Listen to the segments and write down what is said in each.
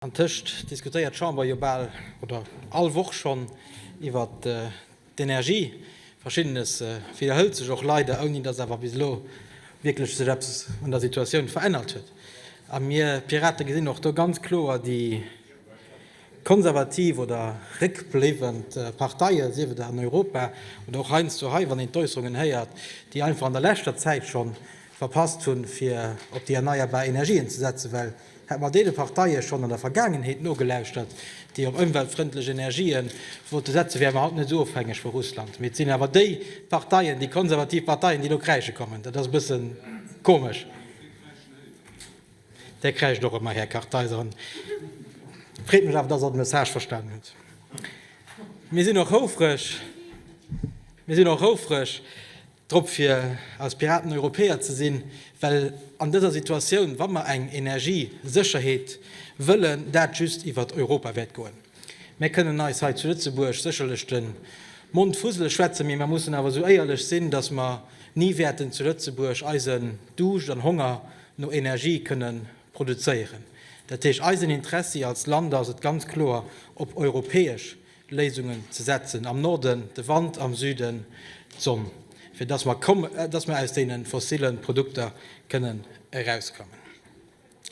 Antëscht diskutéiert d'Chamber jo bal oder all Woch schonn iwwer d'Energie. Verschiddenes widderhëlt sech och leider, ouni datt awer bis elo wierklech sech eppes un der Situatioun verännert huet. A mir Pirate gesinn och do ganz kloer déi konservativ oder réckbléiwend Parteien, sief et an Europa oder och heiansdo hei, wann een d'Äusserungen héiert, déi einfach an der leschter Zäit schonn verpasst hunn, fir op déi erneierbar Energien ze setzen, well Hätt mer deene Parteie schonn an der Vergaangenheet nogelauschtert, déi op ëmweltfrëndlech Energië wollte setzen, wäre mer haut net esou ofhängeg vu Russland. Mee et sinn awer déi Parteien, déi konservativ Parteien, déi elo kräische kommen. Dat ass e bësse komesch. Där kräischt och ëmmer, Här Kartheiser. Et freet mech awer, dass Der de Message verstanen hutt. Mir sinn och houfreg, mir sinn och houfreg, Drop fir eis Piraten Europäer ze sinn, well an dëser Situatioun, wa mer eng Energiesécherheet wëllen, dat just iwwert Europa wäert goen. Mär kënnen eis hei zu Lëtzebuerg sécherlech de Mond fusele schwätzen, mee mer mussen awer esou éierlech sinn, datt mer ni wäerten zu Lëtzebuerg eisen Duuscht an Honger no Energie kënne produzéieren. Dat heescht, eisen Interessi als Land ass et ganz kloer, op europäesch Léisungen ze setzen, am Norden de Wand, am Süden d'Sonn, fir dass mer komm, dass mer aus deene fossile Produkter kënnen erauskommen.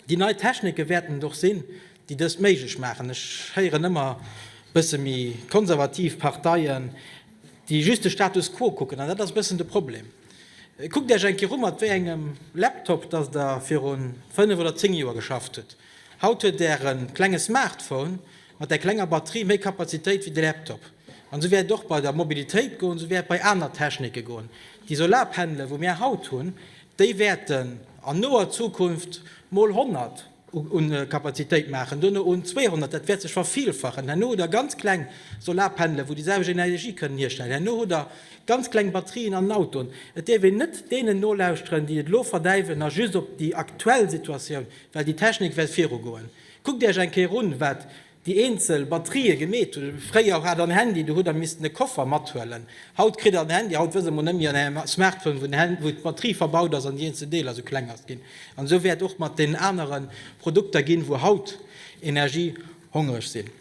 Déi nei Technike wäerten et och sinn, déi dëst méiglech maachen. Ech héieren ëmmer bësse méi konservativ Parteien, déi just de Status quo kucken, an dat ass e bëssen de Problem. Kuckt Iech eng Kéier u mat wéi engem Laptop dass Der viru fënnef oder zéng Joer geschafft hutt. Haut huet Där e klenge Smartphone, Mat der klenger Batterie méi Kapazitéit wéi de Laptop. An esou wäert et och bei der Mobilitéit goen, esou wäert et bei aner Technike goen. Déi Solarpannele wou mir haut hunn, déi wäerten an noer Zukunft mol 100 u Kapazitéit maachen, duerno un 200, dat wäert sech vervillfachen. Herno hutt Der ganz kleng Solarpannele wou déi selwecht Energie kënnen hierstellen. Herno hutt Der ganz kleng Batterien an den Autoen. Et dierf een net deenen nolauschteren, déi et elo verdäiwen a just op déi aktuell Situatioun, well déi Technik wäert virugoen. Kuckt Äerch eng Kéier un wat déi eenzel Batterië gemeet hunn. Fréier hat der en Handy, du hutt der missten e Koffer mathuelen. Haut kritt der en Handy, haut wësse mer net méi an engem Smartphone wou den wou d'Batterie verbaut ass an déi eenzel Deeler sou kleng ass ginn. An esou wäert och mat den anere Produkter ginn wou haut energiehongereg sinn.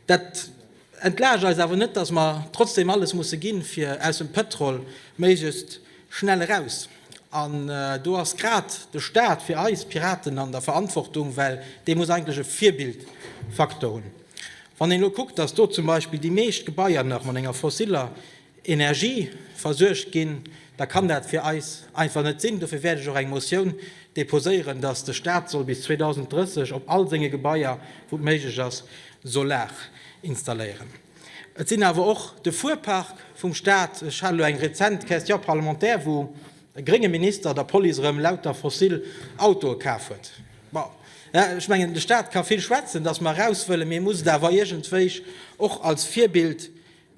Dat. Entlaascht eis awer net, dass mer trotzdem alles musse ginn, fir aus dem Pëtrol méiglechst schnell eraus. An do ass grad de Stat fir eis Piraten an der Verantwortung, well dee muss eigentlech e Virbildfaktor hunn. Wann een elo kuckt, dass do zum Beispill déi meescht Gebaier nach mat enger fossiller Energie versuergt ginn, da kann dat fir eis einfach net sinn. Dofir wäert ech och eng Motioun deposéieren, dass de Stat soll bis 2030 op all senge Gebaier, wou et méiglech ass, Solar installéieren. Et sinn awer och de Fuerpark vum Stat. Ech hat elo eng rezent Question parlementaire, wou e grénge Minister der Police erëm lauter fossil Autoe kaf huet. Bon, ech mengen, de Stat ka vill schwätzen, dass mer eraus wëllen, mee e muss et awer iergendwéi och als Virbild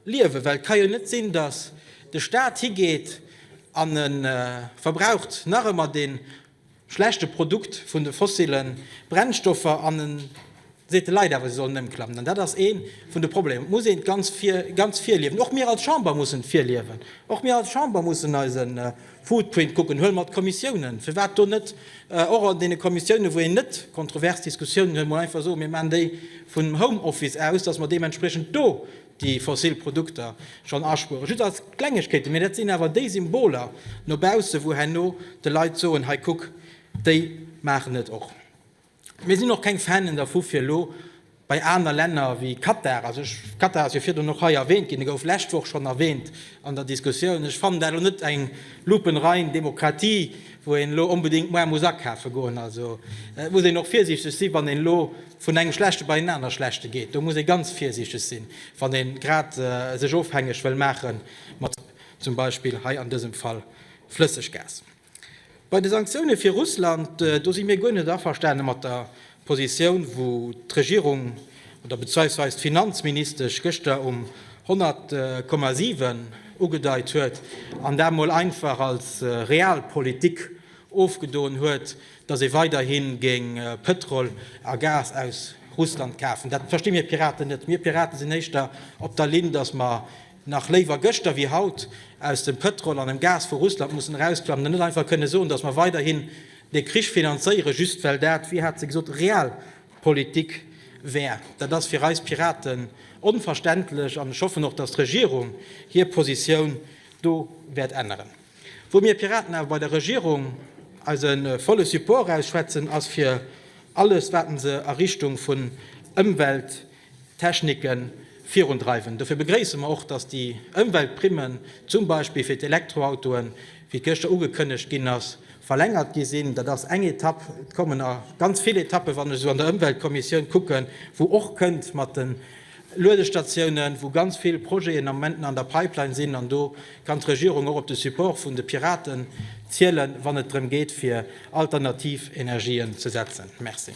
Liewen, well et ka jo net sinn, datt de Staat higeet an e verbraucht nach ëmmer dee schlechte Produkt vun de fossile Brennstoffer an e seet de Leit awer, se sollen ëmklammen. An dat ass ee vun de Problemer. Et muss ee ganz virliewen. Och mir als Chamber mussen virliewen. Och mir als Chamber mussen eise. Footprint kucken, huel mer d'Kommissiounen, firwat do net och an deene Kommissiounen, wou een net kontrovers Diskussiounen huet, mol einfach soen, mir maachen déi vum Home Office aus, dass mer deementspriechend do déi fossil Produkter schonn aspueren. Just als Klengegkeeten, mee dat sinn awer déi Symboler no baussen, wou herno de Leit soen, hei kuck, déi maachen et och. Mir sinn och keng Fanen dervu fir elo bei aner Länner wéi Katar, also Katar ass jo virdrun och hei erwähnt ginn, e gouf lescht Woch schonn erwähnt an der Diskussioun, ech fannen dat elo net eng lupenrein Demokratie, wou een elo onbedéngt muer muss akafe goen. Also muss een och virsiichteg sinn, wann een elo vun engem schlechte bei en anere schlechte geet, do muss ee ganz virsiichteg sinn, wann ee grad sech ofhängeg wëll maache mat zum Beispill hei an dësem Fall Flësseggas. Bei de Sanktioune fir Russland, do si mir guer net averstane mat der Positioun, wou d'Regierung oder bezweisweis d'Finanzministesch gëschter um 100,7 ugedeit huet an dat mol einfach als Realpolitik ofgedon huet, datt ee weiderhi géing Pëtrol a Gas aus Russland kafen. Dat versti mir Piraten net. Mir Piraten sinn éischter op der Linn, datt mer nach léiwer gëschter wéi haut, aus dem Pëtrol an dem Gas vu Russland mussen erausklammen an net einfach kënne soen, datt mer weiderhin dee Krich finanzéieren, just well dat, wéi hat se gesot, Realpolitik wär. Dat ass fir eis Piraten onverständlech an ech hoffen och, datt d'Regierung hir Positioun do wäert änneren. Wou mir Piraten awer bei der Regierung eise volle Support ausschwätzen, ass fir alles, wat se a Richtung vun Ëmwelt, Techniken virundreiwen. Dofir begréisse mer och, dass déi Ëmweltprimmen, zum Beispill fir d'Elektroautoen, wéi et gëschter ugekënnegt ginn ass, verlängert gi sinn. Dat ass eng Etapp. Et kommen nach ganz vill Etappen, wann ech esou an der Ëmweltkommissioun kucken, wou och kënnt mat de Luedestatiounen, wou ganz vill Projeten am Moment nach an der Pipeline sinn. An do kann d'Regierung och op de Support vun de Piraten zielen, wann et drëm geet, fir alternativ Energien ze setzen. Merci.